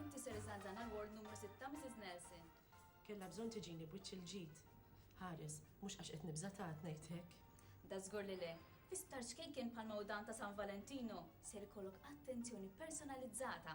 Inti ser iżgħażagħna l-ward numru sitta, Mrs. Nelson. Kellha bżonn tiġini b'wiċċ il-ġid. Ħares, mhux għax qed nibża' ta' ngħid hekk. Dażgur li le. Fi sptar ċkejken bħal ma hu dan ta' San Valentinu, ser ikollok attenzjoni personalizzata.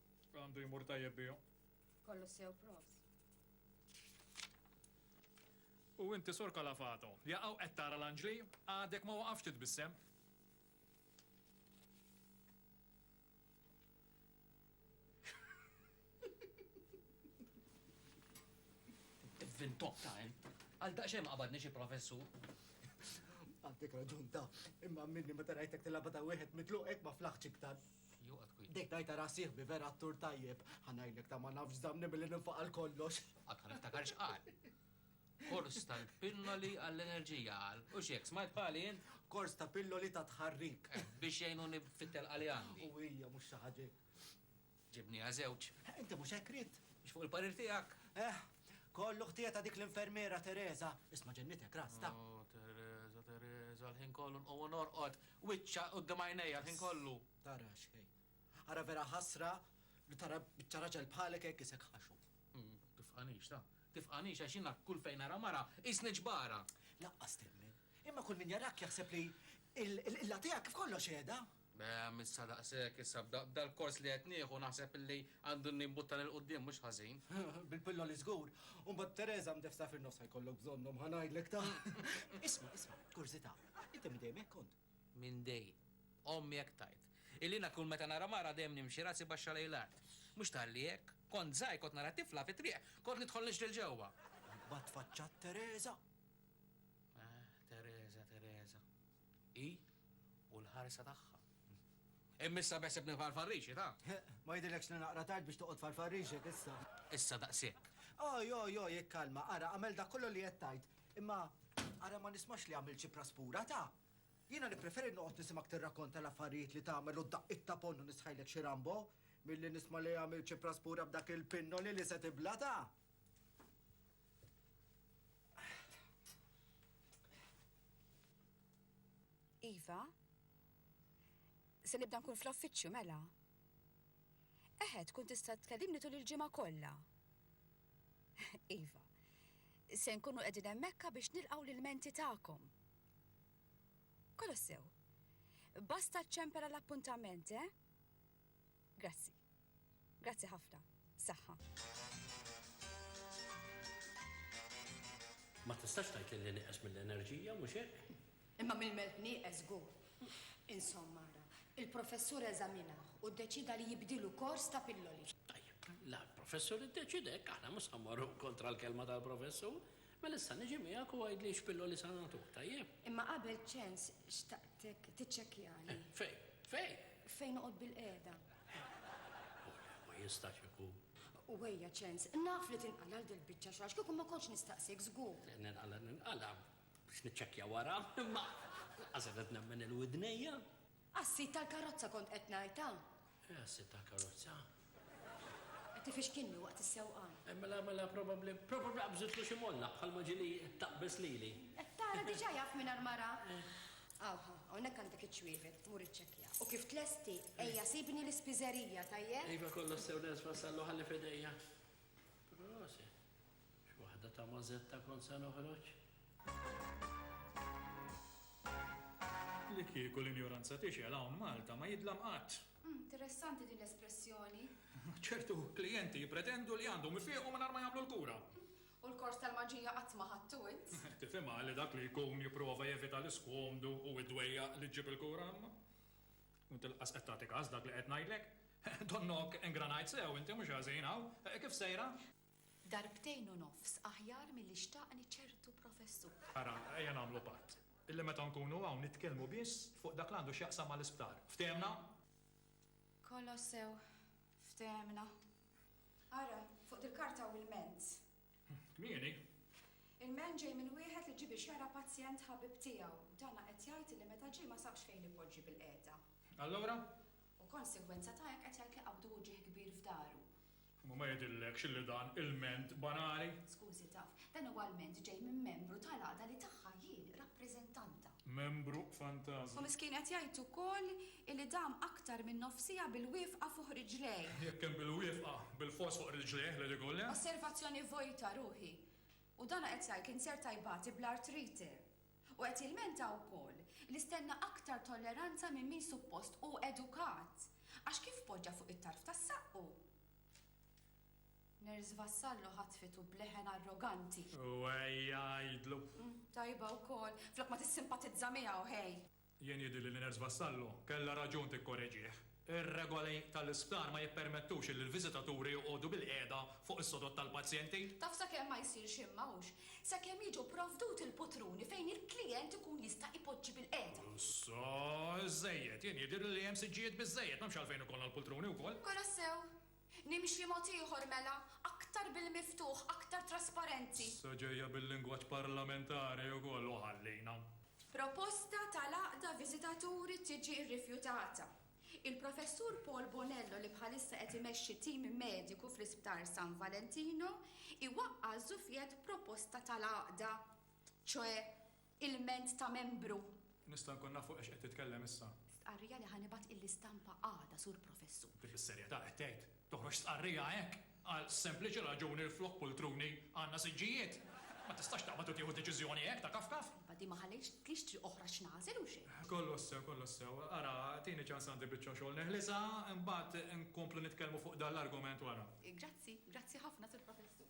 Għandu jmur tajjeb bihom. Kollox sew props. U inti Sur Calafato, jaqgħu qed tara l-anġli? Għadek ma waqafx titbissem. Fin top time. Għal daqxem qabadni xi professur. Għandik raġun ta' imma minni ma tarajtek tilabata wieħed mitluqek ma flaħċ iktar. Joqgħod kwiet. Dejt ngħidha ra sieħbi vera attur tajjeb. Ħa ngħidlek ta' ma nafx żammni billi ninfaq għal kollox. Qatt ma niftakar x'qal. Kors tal-pilloli għall-enerġija qal. U x'hekk, smajt bħali int? Kors ta' pilloli ta' tħarrik. Eh, biex jgħinuni fit-telqa li għandi. U hija mhux xi ħaġa hekk. Ġibniha żewġ. Eh, inti mhux hekk ridt. Biex fuq il-parir tiegħek. Eh, kollu ħtija ta' dik l-infermiera Teresa. Isma' ġennitek rasta. Oh, Teresa, Teresa, l-ħin kollu nqogħu norqod. Wiċċha quddiem għajnejja l-ħin kollu. Tara xejn. Ara vera ħasra li tara biċċa raġel bħalek hekk isek ħaxu. Tifqanix, ta. Tifqanix għax jiena kull fejn nara mara qisni ġbara. Lanqas temmen. Imma kull min jarak jaħseb li l-qilla tiegħek kif kollox qiegħda. Ehm, issa daqshekk, issa b'dal-kors li qed nieħu naħseb li għandu nimbuttan 'il quddiem mhux ħażin. Bil-pilloli żgur. U mbagħad b'Tereża mdefsa fin-nofs ħa jkollok bżonnhom ħa ngħidlek, ta. Isma', isma', kurżità. Inti minn dejjem hekk kont? Minn dejjem. Ommi hekk tgħid. Illi jiena kull meta nara mara dejjem nimxi rasi baxxa lejn l-art. Mhux talli hekk. Kont żgħir kont nara tifla fit-triq, kont nidħol nixri 'l ġewwa. Imbagħad tfaċċat Tereża. Ah, Tereża, Tereża. Hi u l-ħarsa tagħha. Imma issa beħseb nibqa' l-farrixi, ta? Ma jidhirlekx li naqra tard biex toqgħod f'għall-farrixek issa? Issa daqshekk. Oj, oj, oj, ikkalma, ara, agħmel dak kollu li qed tgħid. Imma ara ma nismax li għamilt xi praspura, ta? Jiena nippreferi noqgħod nisimgħek tirrakkonta l-affarijiet li tagħmel u d-daqqiet ta' ponnu nisħajlek xi Rambo, milli nisma' li għamilt xi praspura b'dak il-pinnoli li se tibla, ta? Iva? Se nibda nkun fl-offiċċju mela? Eħe, tkun tista' tkellimni tul il-ġimgħa kollha. Iva, se nkunu qegħdin hemmhekka biex nilqgħu l-ilmenti tagħkom. Kolossew, basta ċċempera l-appuntament, eh? Grazzi. Grazzi ħafna. Saħħa. Ma tistax tgħid li nieqes mill-enerġija, mhux hekk? Imma mill-melħ nieqes żgur. Insomma ara, il-professur eżaminah u ddeċieda li jibdilu kors ta' pilloli. Tajjeb, la l-professur iddeċieda hekk, aħna mhux se mmorru kontra l-kelma tal-professur. Mela issa niġi miegħek u għidli x'pilloli se nagħtuk, tajjeb? Imma qabel ċens xtaqtek tiċċekkjali. Fejn? Fejn? Fejn noqgħod bilqiegħda. Ole, ma jistax ikun. U ejja ċens, naf li tinqala' għal dil-biċċa xogħol, x'kieku ma kontx nistaqsik żgur. Ninqala' ninqala', Biex niċċekkja wara, imma lanqas qed nemmen lil widnejja. Għas-sid tal-karozza kont qed ngħid, ha? Eh, għas-sid tal-karozza. Qed ifixkilni waqt is-sewqan. Eh, mela, mela probabbli, probabbli qabżitlu xi molla bħalma ġieli taqbeż lili. Qed tara diġà jaf mingħajr ma ra? Aw, ha, hawnhekk għandek iċ-ċwievet, mur iċċekkja. U kif tlesti, ejja sibni l-ispiżerija, tajjeb? Iva, kollox sew ners wassallu ħalli f'idejja. Prosit. Xi waħda ta' Mazetta kont se noħroġ. Li kieku l-injoranza tixgħel hawn Malta ma jidlam qatt. Interessanti din l-espressjoni. Ċertu klijenti jippretendu li għandhom ifiequ mingħajr ma jagħmlu l-kura. U l-kors tal-maġija qatt ma ħadtu int? Tifhimha li dak li jkun jipprova jevita l-iskomdu u d-dwejjaq li ġġib il-kura imma. U tilqas qed tagħti kas dak li qed ngħidlek. Donnok ingranajt sew inti mhux ħażin hawn. Kif sejra? Darbtejn u nofs aħjar milli xtaqni ċertu professur. Ara, ejja nagħmlu patt. Illi meta nkunu hawn nitkellmu biss fuq dak li għandu x'jaqsam mal-isptar. Ftehemna? Kolossew, ftehemna. Ara, fuq dil-karta hawn ilment. Kmieni. Ilment ġej minn wieħed li ġie biex jara pazjent ħabib tiegħu. Dana qed jgħid illi meta ġie ma sabx fejn ipoġġi bilqiegħda. Allura? U konsegwenza ta' hekk qed jgħid li qabdu uġigħ kbir f'daru. Imma ma jidhirlekx illi dan ilment banali? Skużi, taf, dan huwa lment ġej minn membru tal-għada li tagħha jien rappreżentanta. Membru fantażma. U miskin qed jgħid ukoll illi dam aktar minn nofs siegħa bil-wiefqa fuq riġlejh. Jekk kien bil-wiefqa, bilfors fuq riġlejh li digo le? Osservazzjoni vojta, ruħi. U dan qed jgħid li nserta jbati bl-artrite. U qed jilmenta wkoll li stenna aktar tolleranza minn min suppost hu edukat għax kif poġġa fuq it-tarf ta' saqqu, Nurse Vassallo ħatfitu b'leħen arroganti. U ejja għidlu. Tajba wkoll, flok ma tissimpatizza miegħu, hey! Jien jidhirli li Nurse Vassallo kellha raġun tikkoreġih. Ir-regoli tal-isptar ma jippermettux li l-viżitaturi joqogħdu bilqiegħda fuq is-sodod tal-pazjenti. Taf sakemm ma jsir xejn ma hux sakemm jiġu pprovduti l-putruni fejn il-klijent ikun jista' ipoġġi bilqiegħda. Issa iżżejjed. Jien jidhirli li hemm siġġijiet biżżejjed, m'hemmx għalfejn ikollna l-pultruni wkoll. Kolossew, Nimxi mod ieħor mela, aktar bil-miftuħ, aktar trasparenti. Issa ġejja bil-lingwaġġ parlamentari wkoll u ħallina. Proposta tal-Għaqda Viżitaturi tiġi rrifjutata. Il-Professur Paul Bonello li bħalissa qed imexxi tim mediku fl-Isptar San Valentino iwaqqa' żufjett proposta tal-Għaqda, ċoe Ilment ta' Membru. Nista' nkun naf fuq ex qed titkellem issa? Stqarrija li ħa nibgħat il-istampa għada, Sur Professur. Inti fis-serjetà qed tgħid toħroġ stqarrija hekk għal sempliċi raġuni li flok pultruni għandna siġġijiet? Ma tistax taqbad u tieħu deċiżjoni hekk ta' kafkaf. Iva, din ma ħallejtx triq oħra x'nagħżel u xejn. Kollox sew, kollox sew. Ara, tini ċans għandi biċċa xogħol neħlisha, imbagħad inkomplu nitkellmu fuq dan l-argument wara. Grazzi, grazzi ħafna, Sur Professur.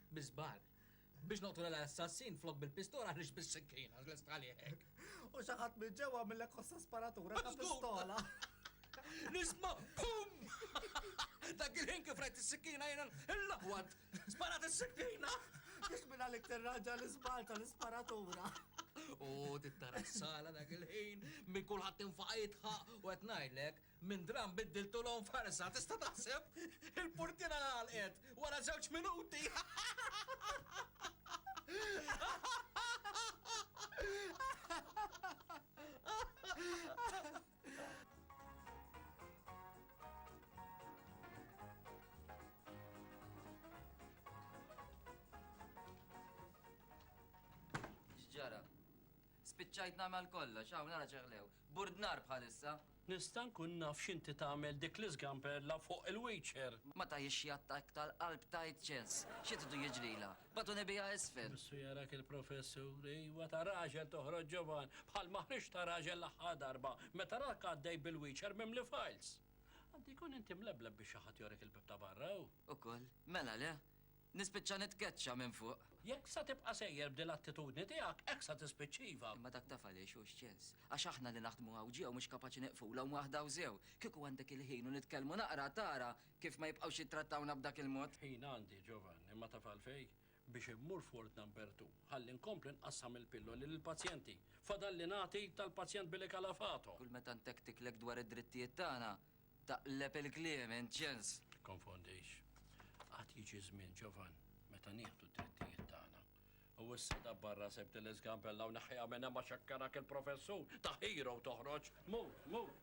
Bi żball. Biex noqtol l-assassin flok bil-pistola għaliex bis-sikkina, lest għalih hekk. U xi ħadd minn ġewwa għamillek ħossa sparatura ta' pistola. Nisma' bum! Dak il-ħin kif rajt is-sikkina jiena l-laqwad. Sparat is-sikkina! Biex minn għalik tirraġa l-iżball tal-isparatura. U tittara s-sala dak il-ħin, minn kulħadd tinfaqa jitħaq u qed ngħidlek, Minn dramm biddiltulhom f'ħarsa, tista' taħseb? Il-purtiera ngħalqet wara żewġ minuti! X'ġara? Spiċċajt nagħmel kollox, hawn ara ċeħlew. Bord nar bħalissa. Nista' nkun naf x'inti tagħmel dik l-iżgamberla fuq il-wheelchair? Ma tagħhiex xi attakk tal-qalb tight chance. Xi tridu jiġrilha? Bagħtuni biha isfel. Missu jarak il-Professur, Iwa, ta' raġel toħroġ ġovan, bħal ma ħriġt ta' raġel l-aħħar darba, meta raħk għaddej bil-wheelchair mimli files. Għandu jkun inti mlebleb biex xi ħadd jorik il-bieb ta' barra, hu? Ukoll. Mela le? Nispiċċa nitkeċċa minn fuq. Jekk sa tibqa' sejjer b'din l-attitudni tiegħek, hekk sa tispiċċa iva. Imma dak taf għaliex hu x'ċens? Għax aħna li naħdmu hawn ġew mhux kapaċi neqfulhom waħda u sew. Kieku għandek il-ħin u nitkellmu naqra tara kif ma jibqgħux jittrattawna b'dak il-mod. Ħin għandi, Giovanni, imma taf għalfejn? Biex immur f'Ward Number Two. Ħalli nkompli nqassam il-pilloli lill-pazjenti. Fadalli nagħti tal-pazjent Billy Calafato. Kull meta ntektiklek dwar id-drittijiet tagħna, Taqleb il-kliem, int ġens! Tikkonfondix. Għad jiġi żmien, ġovan, meta nieħdu d-drittijiet tagħna. U issa dabbar rasek b'din l-iżgambella u neħħiha minn hemm għax hekk arak il-professur ta' hero toħroġ. Mur, mur!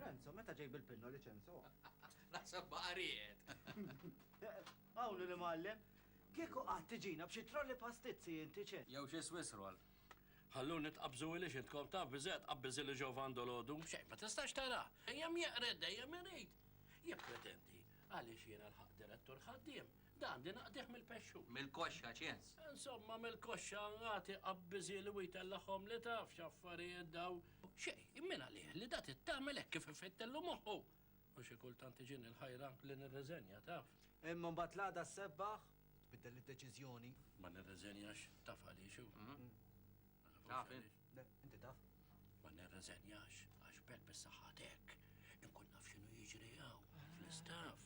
Renzo, meta ġej bil-pinna li ċenso? Naħseb baqa' riqed. Awlu l-Imgħallem, Kieku qatt tiġina b'xi trolli pastizzi inti, ċe? Jew xi Swiss roll. Ħalluni tqabżu iliex intkom taf biżżejjed tqabbiż ili Jovan dolodu. Xejn ma tistax tara. Dejjem jeqred, dejjem irid. Jippretendi. Għaliex jiena lħaqt direttur ħaddiem. Da għandi naqdih mill-pexxu. Mill-koxxa, ċens. Insomma, mill-koxxa agħti qabbiż ili u jtella' ħomli taf x'affarijiet dawn. Xejn, min għalih li da trid tagħmel hekk kif ifittillu moħħu? U xi kultant tiġini l-ħajra li nirriżenja, taf. Imma mbagħad l-għada ssebbaħ u tbiddel id-deċiżjoni. Ma nirriżenjax, taf għaliex hu? Taf int? Le, inti taf. Ma nirriżenjax għax b'hekk bis-saħħa t'hekk inkun naf x'inhu jiġri hawn fl-istaff.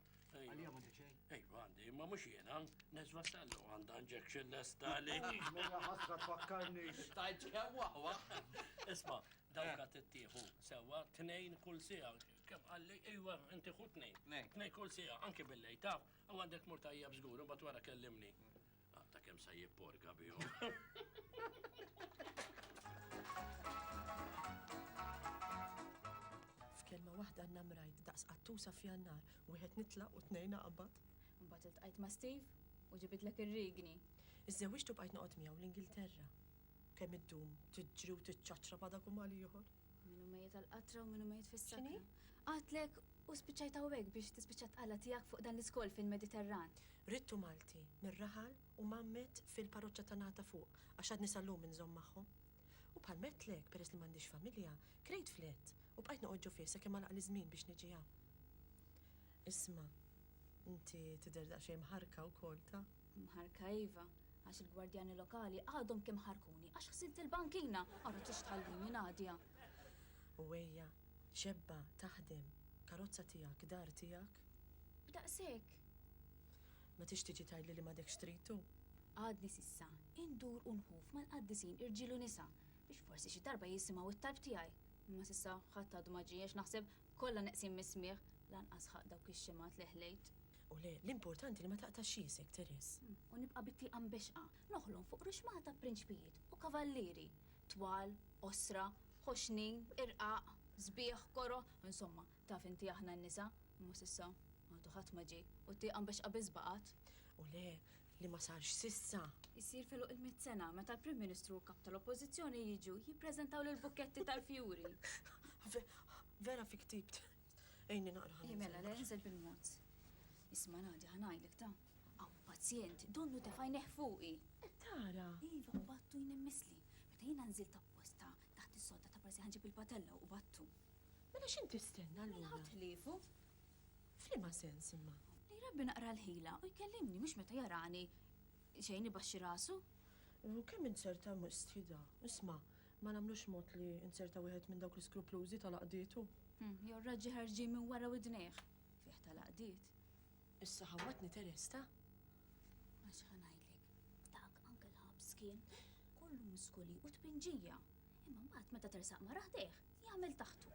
Għalija ma għandek xejn? Ejwa għandi, ma mux jena, nezva sallu għanda injection lesta li. Mela ħasra tfakkarni. Stajt kewa għu. Isma, dawka eh. t-tieħu, sewa, t-nejn kull sija, kem għalli, ejwa, inti xu t-nejn. T-nejn kull sija, anki bil-lej, taf, għandek murtajja bżgur, bat wara kellimni. Mm. Għatta kem sa jipporga bihom. F'kelma waħda n-namrajt daqs qattusa f'jannar, wieħed nitlaq u tnejna qabad. Mbagħad iltqajt ma' Steve u ġibidlek ir-rigni. Iżżewġtu bqajt noqgħod miegħu l-Ingilterra. Kemm iddum tiġri u tiċċaċċra badak u mal ieħor. Minu mejjet tal-qatra u minu mejjet fis-sani. Għatlek u spiċċajt hawnhekk biex tispiċċa tqalla tiegħek fuq dan l-iskol fil-Mediterran. Ridtu Malti, mir-raħal u mgħammed fil-parroċċa ta' Nagħta Fuq għax għadni sal-lum inżomm magħhom. U bħal m'għedtlek, peress li m'għandix familja, krejt flet u bqajt noqgħod ġo fih sakemm għalaqli ż-żmien biex niġi hawn. Isma', inti tidher daqsxejn mħarrka wkoll, ta? Mħarrka iva, għax il-gwardjani lokali għadhom kemm ħarrkuni għax ħżint il-bankina! Ara t-tix tħallini, Nadia! U ejja, xebba, taħdem, karozza tiegħek, dar tiegħek. B'daqshekk! Ma tix tiġi tgħidli li m'għadekx trid tu? Għadni s'issa indur u nhuf mal-qaddisin irġiel u nisa biex forsi xi darba jisimgħu t-talb tiegħi, imma s'issa ħadd għadu ma ġie għax naħseb kollha neqsin mis-smigħ, lanqas ħaqq dawk ix-xemgħat li ħlejt. U le, l-importanti li ma taqtax xiesek, Therese. U nibqa' bit-tieqa mbexxqa, noħlom fuq ruxmata ta' prinċpijiet u kavallieri, twal, qosra, ħoxnin, irqaq, sbieħ, koroh, insomma, Taf inti aħna n-nisa, imma s'issa, għadu ħadd ma ġie, u t-tieqa mbexxqa biss baqgħet. U le, li ma sarx s'issa. Isir f'għeluq il-mitt sena, meta l-Prim Ministru u l-Kap tal-Oppożizzjoni jiġu jippreżentaw l-bukketti tal-fjuri. Vera fi ktibt. Għinni naqra ħalli nserraħ. Mela, le, inżel bil-mod. Isma' Nadia, ħa ngħidlek, ta. Hawn pazjent, donnu tefa' għajnejh fuqi. Qed tara? Iva, u Battu jnemmsli. Meta jiena nżilt apposta taħt is-sodda ta' Prasi ħa nġib il-patella u Battu. Mela x'int tistenna allura? Mela hu tliefu. F'liema sens imma? Li jrabbi naqra l-ħila u jkellimni mhux meta jarani xejn ibaxxi rasu. U kemm int ser tagħmel stfida? Isma', ma nagħmlux mod li nser ta' wieħed minn dawk l-iskruplużi ta' l-għaqdietu. Hm, jew raġġi ħarġin minn wara widnejh. Fih ta' l-għaqdiet. Issa ħawwadtni Teresta. Għax ħa ngħidlek, dak anke l-ħabs kien kollu muskoli u tpinġija. Imma mbagħad meta tersaq mara ħdejh, jagħmel taħtu.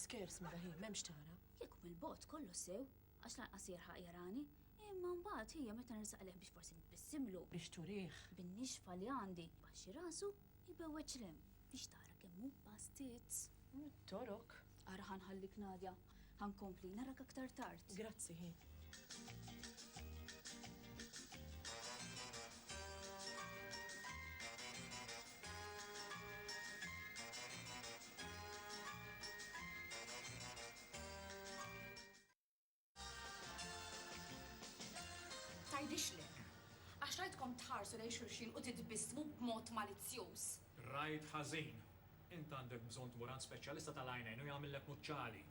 Skers mara hi, m'hemmx tara. Kieku mill-bogħod kollox sew, għax lanqas jerħaq jarani, imma mbagħad hija meta nersaq lejh biex forsi nbissimlu. Biex turih. Bin-nixfa li għandi, baxxi rasu, ibewweġ 'l hemm biex tara kemm hu bastit. Mit-torok. Ara ħa nħallik Nadia, Ħa nkompli narak aktar tard. Grazzi, hi. Tgħidixlek. Għax rajtkom tħarsu lejn xulxin u titbissmu b'mod malizzjuż. Rajt ħażin. Int għandek bżonn tmur għand speċjalista tal-għajnejn u jagħmillek muċċali.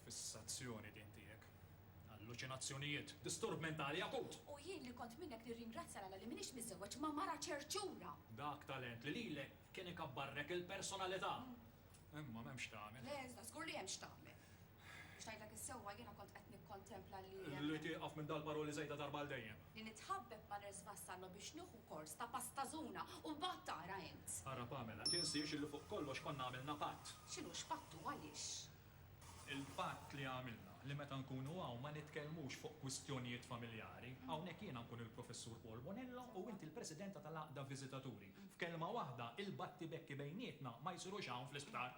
Fissazzjoni din tiegħek. Alluċinazzjonijiet. Disturb mentali akut! U jien li kont minnek nirringrazzja l-Alla li m'iniex miżżewweġ ma' mara ċerċura! Dak talent li lilek kien ikabbarlek il-personalità. Imma m'hemm x'tagħmel. Le, iżda żgur li hemm x'tagħmel. Biex ngħidlek is-sewwa jiena kont qed nikkontempla li hemm. Li tieqaf minn dal-paroli żejda darba għal dejjem. Li nitħabbeb ma' Nurse Vassallo biex nieħu kors ta' pastażuna u mbagħad tara int. Ara Pamela, tinsiex illi fuq kollox konna għamilna patt. X'inhu x'patt u għaliex? Il-patt li għamilna li meta nkunu hawn ma nitkellmux fuq kwistjonijiet familjari. Hawnhekk jiena nkun il-Professur Paul Bonello u int il-Presidenta tal-Għaqda Viżitaturi. F'kelma waħda, il-battibekki bejnietna ma jsirux hawn fl-isptar.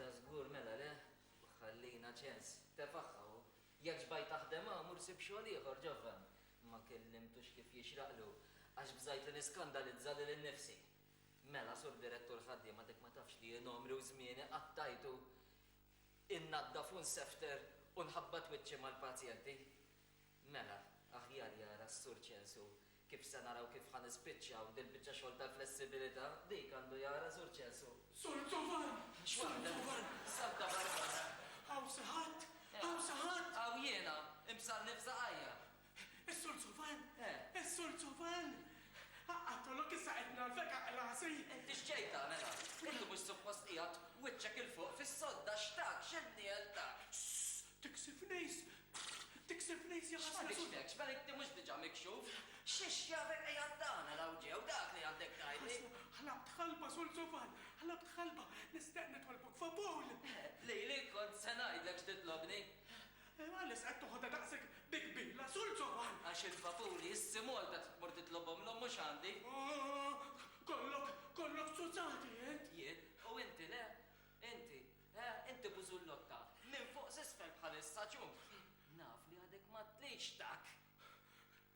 Dażgur mela le, ħallina ċens. Tefaħħa hu. Jekk xbajt taħdem hawn, mur sib xogħol ieħor, Ġovan. Ma kellimtux kif jixraqlu, għax bżajtu niskandalizza lili nnifsi. Mela, Sur Direttur Ħaddiem, għadek ma tafx li jien għomri u żmieni qatt tajtu innaddaf u nsefter u nħabbat wiċċi mal-pazjenti? Mela, aħjar jara s-Sur Ċensu kif se naraw kif ħa nispiċċaw dil-biċċa xogħol tal-flessibilità, dik għandu jara Sur Ċensu. Sur Zovan! Sur Zovan! Salta barra! Hawn xi ħadd? Hawn xi ħadd? Hawn jiena, imbsarni f'saqajja. Is-Sur Zuvan! Is-Sur Zuvan! Aqgħad tolok issa qed ngħarrfek aqgħa' rasi! Inti x'ġejta, mela? Inti mhux suppost qiegħed wiċċek 'il fuq fis-sodda x'tak, x'inniel tak? Sss! Tiksif nejs! Tiksif nejs ja ħasra sud! X'fadixtekx, mela inti mhux diġà mikxuf? X'hix jafek qiegħed tagħmel hawn ġew dak li għandek tgħidli? Ħlabt ħalba, Sur Zuvan! Ħlabt ħalba! Nistaq nitolbok f'apowl! Lili kont se ngħidlek x'titlobni! Imma għaliex qed toħodha daqshekk bi kbila, Sur Ġovan? Għax il-vapuri issi Malta trid tmur titlobhomlhom mhux għandi. Kollok, kollok zuzzati int! Jien? U inti le? Inti, eh, inti bużullotta, minn fuq s'isfel bħalissa, ċum! Naf li għadek m'għadtlix, tak!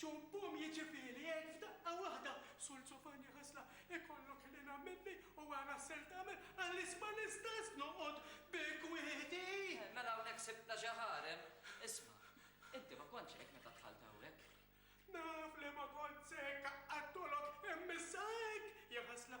Ċumm pumm jiġifieli hekk f'daqqa waħda, Sul Zofania Hasla, ikollok ħniena minni u ara x'ser tagħmel għaliex ma nistax noqgħod bi kwieti! Eh, mela hawnhekk sibtna xi ħarem. Isma', inti ma kontx hekk meta dħalt hawnhekk? Naf li ma kontx hekk, qattgħulok, imma issa hekk! Ja Hasla,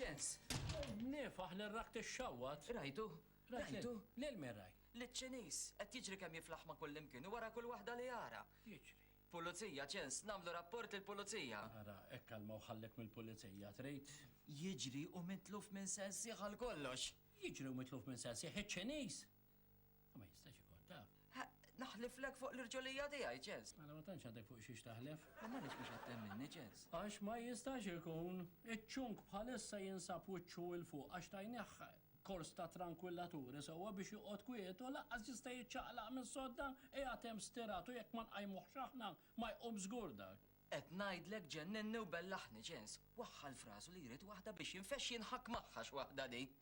Ċens. Niefaħ lil rakt ixxawwat. Rajtu? Rajtu? Lil min rajt? Liċ-Ċiniż, qed jiġri kemm jiflaħ ma' kullimkien u wara kull waħda li jara. Jiġri. Pulizija, ċens, nagħmlu rapport lill-pulizija. Ara, hekk kalma u ħallek mill-pulizija, trid? Jiġri u mitluf minn sensih għal kollox. Jiġri u mitluf minn sensih iċ-Ċiniż! Ma jistax ikun ta. Naħliflek fuq l-irġolija tiegħi, Ġez. Mela ma tantx għadek fuq xiex taħlef. Imma għaliex mhux qed temminni, Ġez? Għax ma jistax ikun. Iċ-ċunk bħalissa jinsab wiċċu 'l fuq għax tajnieh kors ta' trankwilaturi sewwa biex joqgħod kwiet u lanqas jista' jiċċaqlaq mis-sodda qiegħed hemm stirat u jekk ma nqajmuhx aħna ma jqum żgur dak. Qed ngħidlek ġenninni u bellaħni, Ġez. Waħħal f'rasu li jrid waħda biex jinfexx jinħakk magħha x'waħda din.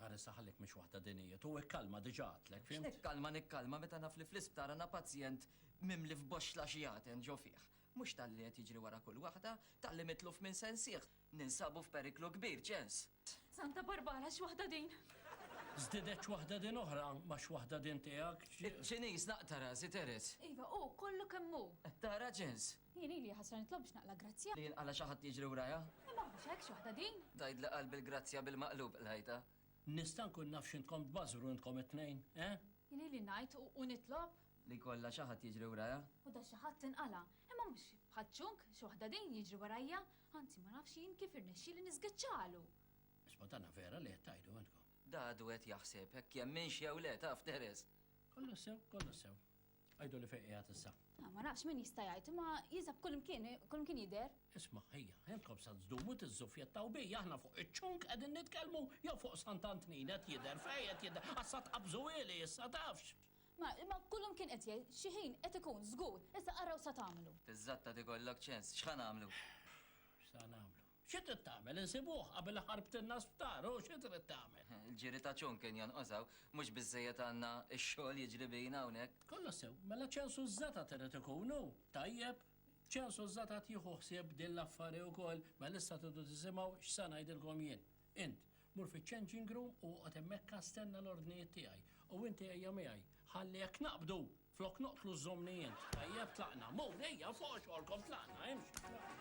Ara issa ħallejk mhix waħda din hi, tu ikkalma diġa għadtlek, fhimt? X'nikkalma nikkalma meta naf li fl-isptar għandna pazjent mimli f'boxxla xi għaten ġo fih. Mhux talli qed jiġri wara kull waħda, talli mitluf minn sensih, ninsabu f'periklu kbir, ċens. Santa Barbara x'waħda din! Żdiedet x'waħda din oħra, ma x'waħda din tiegħek, ċ. Ċiniż naqta' rasi, Teres. Iva hu, kollu kemm hu. Qed tara, ċens? Jien ili ħasra nitlob biex naqla' grazzja. Li jinqala' xi ħadd jiġri wrajha. Imma mhux hekk, x'waħda din! Tgħidli qalbi l-grazzja bil-maqlub qlajtha. Nista' nkun naf x'intkom tbażżru intkom it-tnejn, eh? Jien ili ngħid u nitlob. Li jkollha xi ħadd jiġri wrajha. U da xi ħadd inqala'. Imma mhux bħaċ-ċunk, x'waħda din, jiġri warajja. Anzi, ma nafx jien kif irnexxieli niżgiċċalu! Isma' dana vera li qed tgħidu intkom? Da għadu qed jaħseb hekk jemminx jew le, taf, Teres. Kollox sew, kollox sew. Għajdu li fejn qiegħed issa. Ah, ma nafx min jista' jgħid, ma jiżab kull imkien, kull imkien jidher. Isma' ħejja, jentkom sa tżdumu tiżżufjettaw bi, aħna fuq iċ-ċunk qegħdin nitkellmu jew fuq Sant Antnin qed jidher fejn qed jidher, assa tqabżu ili issa tafx. Ma imma kull imkien qed jgħid, xi ħin qed ikun żgur, issa araw sa tagħmlu. Tiżżattad ikollok ċens, x'ħa nagħmlu? X'sa nagħmlu? Xi trid tagħmel, insibuh qabel iħarbtilna sptar, hu xi trid tagħmel? Il-ġiri ta' ċunk kien jonqos hawn, mhux biżżejjed għandna x-xogħol jiġri bina hawnhekk. Kollox sew, mela ċensu ż-żetat irid ikun, hu? Tajjeb. Ċensu ż-żetat jieħu ħsieb din l-affari wkoll, mela issa tridu tisimgħu x'se ngħidilkom jien. Int, mur fiċ-changing room u oqgħod hemmhekka stenna l-ordnijiet tiegħi. U inti ejja miegħi. Ħalli jekk naqbdu, flok noqtlu żżommni int. Tajjeb, tlaqna. Mur, ejja, fuqha xogħolkom, tlaqna, imxi.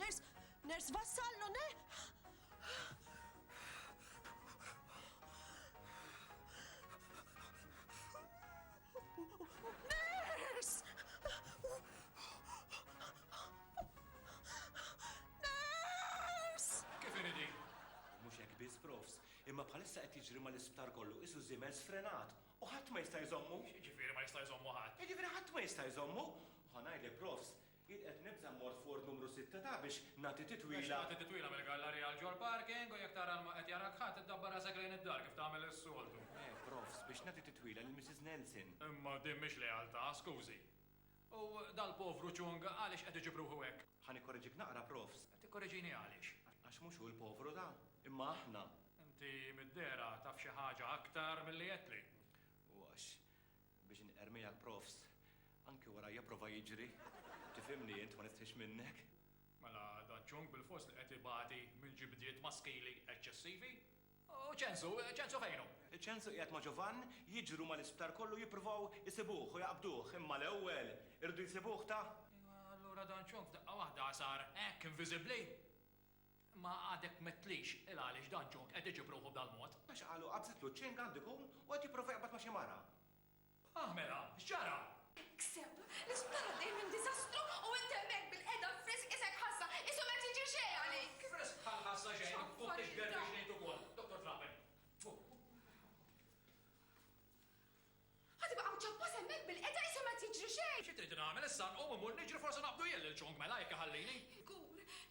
Ners, ners vassallo, ne? Ners! Ners! Kif iridi? Mhux hekk biss profs, imma bħalissa qed jiġri mal-isptar kollu isu żiemel sfrenat u ħadd ma jista' jżommu. Ġifieri ma jista' jżommu ħadd. Ġifieri ħadd ma jista' jżommu. Ħa ngħidlek profs, Jien qed nibża' mmorr f'ward numru sitta ta' biex nagħti titwila. Biex tagħti titwila mill-gallarija għall-ġol parking u jekk tara li ma qed jarak ħadd iddabbar rasek lejn id-dar kif tagħmel is-soltu. Le, profs, biex nagħti titwila lil Missis Nelson. Imma din mhix lealtà, skużi. U dal-povru Chung għaliex qed iġib ruħu hekk? Ħa nikkoreġik naqra, profs. Tikkoreġini għaliex? Għax mhux hu l-povru da, imma aħna. Inti mid-dehra taf xi ħaġa aktar milli għedtli. U għax Biex inqermija l-profs anki wara japprova jiġri, tifhimni int ma nistħix minnek. Mela dan ċung bilfors li qed ibati minn ġibdiet maskili eċċessivi? U Ċensu, Ċensu fejn hu? Ċensu qiegħed ma' Ġovann, jiġru mal-isptar kollu jippruvaw isibuh u jaqbduh, imma l-ewwel iridu jsibuh ta. Imma allura dan ċung f'daqqa waħda sar hekk inviżibbli? Ma għadek m'għedtlix il-għaliex dan John qed iġib ruħu b'dal-mod? Għax qalu qabżitlu ċ-ċing għandu jkun u qed jipprova jaqbad ma' xi mara. Ah mela, x'ġara? Ikseb! L-isptar għaddej minn diżastru u int hemmhekk bil-qiegħda f'frisk isek ħassa, qishu ma qed jiġri xejn għalik! Frisk bħal ħassa xejn, u biex ngħid ukoll, Dottor Trapen. Ħa tibqa' mċappas hemmhekk bilqeda qishom qed jiġri xejn! Xi tridni nagħmel issa, nqum immur niġri forsi naqbdu jien lil Chung mela jekk iħallini? Inkur,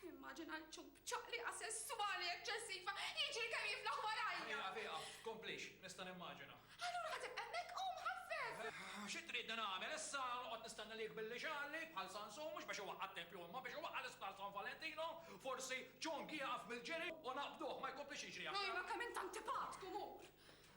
nimmaġina lil Chung b'ċaqliqa sesswali eċċessiva jiġri kemm jiflaħ warajja! Ieqaf, ieqaf, tkomplix, nista' nimmaġina. Allura ħa tibqa' hemmhekk, qum ħaffef! Xi tridni nagħmel issa, noqgħod nistenna li jikbilli xagħli bħal Sansun mhux biex iwaqqa' t-tempju imma biex iwaqqa' l-isptar San Valentino? Forsi Chung jieqaf mill-ġiri u naqbduh ma jkomplix jiġri aktar! Ejma kemm int antipatku, mur!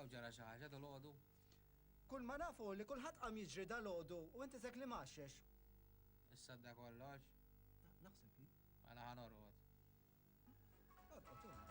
Hawn ġara xi ħaġa dalgħodu? Kull ma naf hu li kulħadd qam jiġri dalgħodu u int isek li mgħaxxex. Issadda kollox? Naħseb hi. Mela ħa norqod. Orqod int.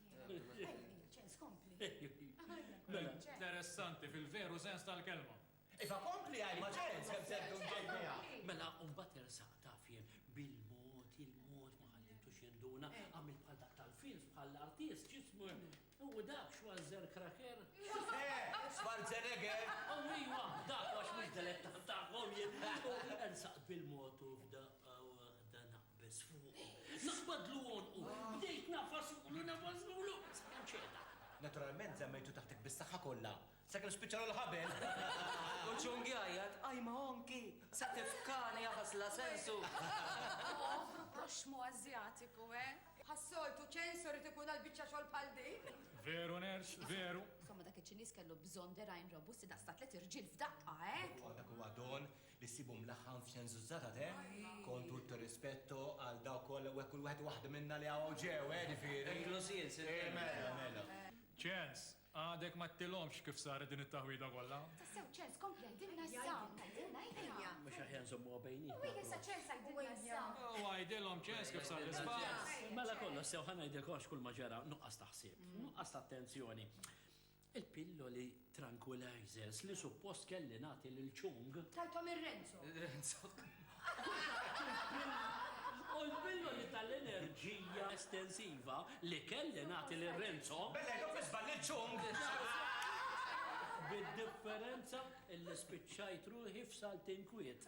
ċens kompli. Mela, interessanti fil-veru sens tal-kelma. Iva kompli għaj ma ċens, għem seddu mġejja. Mela, umbat ersaq taf jien bil-mod, il-mod ma ħallitu xinduna, għamil bħal dak tal-films, bħal l-artist, ġismu, u dak xwazzer kraker. Schwarzenegger! U iwa, dak għax mux deletta ta' għom jien, ersaq bil-mod u f'daqqa u għahdana. biss fuqu. Naqbadlu għonqu, bdejt ngħafasulu, ngħafasulu, sakemm ċeda. Naturalment żammejtu taħtek bis-saħħa kollha, sakemm spiċċalu l-ħabel. U Chung jgħajjat, Aj ma Honky, sa tifkani jafas la sensu. Povru proxxmu Ażjatiku, eh? Bħas-soltu, ċensu irid ikun għal biċċa xogħol bħal din? Veru Ners, veru. Insomma, dak iċ-Ċiniż kellu bżonn dergħajn robusti daqs ta' tliet irġiel f'daqqa, eh? Dak huwa don, li ssibu mlaħħam f'senzuzzata te, kon tutto rispetto għal dawk kollha u hekk kull wieħed u waħda minna li hawn ġew, eh, ġifieri. Inkluż jien, Sir Kelly. Mela, mela. Charles, għadek ma qttilhomx kif saret din it-taħwida kollha? Tassew, Charles, kompli għidilna issa. Għidilna, ejja. Mhux aħjar nżommuha bejnietna. U hekk issa, Charles, għidilna issa. U għidilhom, Charles, kif sar l-iżball. Mela kollox sew, ħa ngħidilkomx kull ma ġara, nuqqas ta' ħsieb, nuqqas ta' attenzjoni. Il-pilloli tranquilizers li suppost kelli nagħti lil Chung. Tajthom lil Renzo. Renzo. U l-pilloli tal-enerġija estensiva li kelli nagħti lil Renzo. Bellejt u fl-iżball lil Chung. Bid-differenza li spiċċajt ruħi f'salt inkwiet.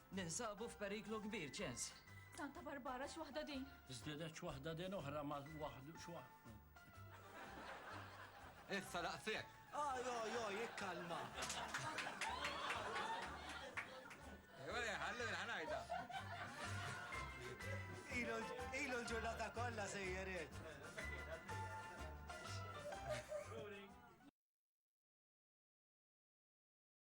Ninsabu f'periklu kbir, Ċens. Santa Barbara, x'waħda din? Żdiedet x'waħda din oħra ma' waħd x'waħda. Issa laqsek. Oj, oj, oj, ikkalma. Ej, ħallu l-ħanajda. Ilu l-ġurnata kollha sejjeriet.